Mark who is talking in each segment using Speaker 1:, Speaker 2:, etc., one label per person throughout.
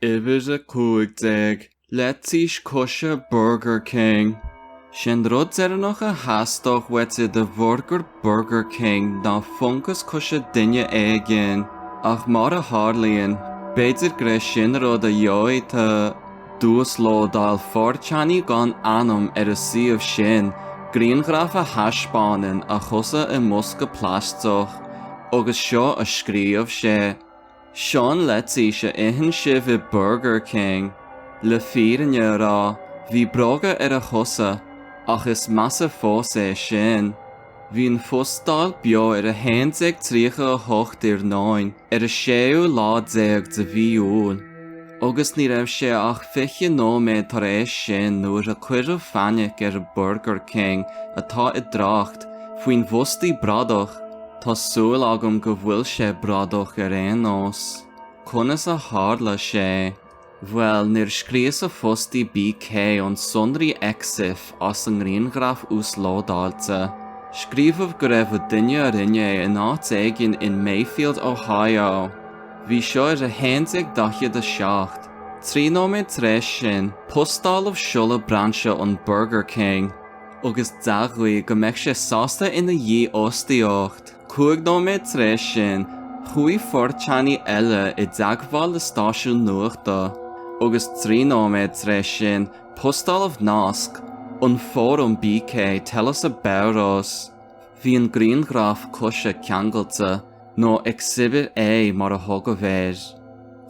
Speaker 1: Uimhir 15, Leitís coise Burger King. Sé'n rud deireannach a theastódh uait i do bhurgar Burger King ná fungas coise duine éigin, ach mar a tharlaíonn, b'fhéidir gur é sin a rud a gheobhaidh tu, d'uaslódáil fourchanie gan ainm ar an suíomh sin grianghraf a thaispeánann a chosa i mbosca plaisteach agus seo a scríobh sé. Sean leitís a itheann sibh i Burger King. Le fírinne a rá, bhí bróga ar a chosa, ach is measa fós é sin. Bhí an phostáil beo ar 11:38 iarnóin ar an séú lá déag de mhí Iúil. agus ní raibh sé ach fiche nóiméad tar éis sin nuair a cuireadh fainic ar Burger King atá i dtrácht faoin bhfostaí bradach, tá súil agam go bhfuil sé bradach ar aon nós. Conas a tharla sé? Bhuel, nuair scríosadh fostaí BK ón sonraí Exif as an ngrianghraf uaslódáilte, scríobhadh go raibh a duine a rinne é in áit éigin in Mayfield, Ohio. Bhí seo ar 11:47. Trí nóiméad tar éis sin, postáladh seoladh brainse an Burger King agus d'admhaigh go mbeadh sé sásta ina dhífhostaíocht. Cúig nóiméad tar éis sin, chuaigh foirteánaí eile i dteagmháil le stáisiún nuachta agus trí nóiméad tar éis sin, postáladh nasc, an fóram BK tell us about us. Bhí an grianghraf coise ceangailte, nó exhibit A mar a thugadh air.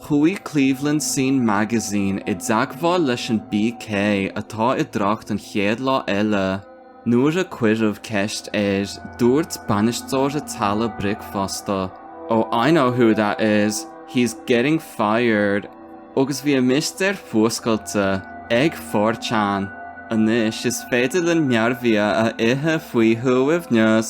Speaker 1: Chuaigh Cleveland Scene Magazine i dteagmháil leis an BK atá i dtrácht an chéad lá eile. Nuair a cuireadh ceist air, dúirt bainisteoir a teallaigh bricfeasta, Oh I know who that is, he's getting fired! Agus bhí an mistéir fuascailte ag Fortean! Anois is féidir linn mearbhia a ithe faoi shuaimhneas.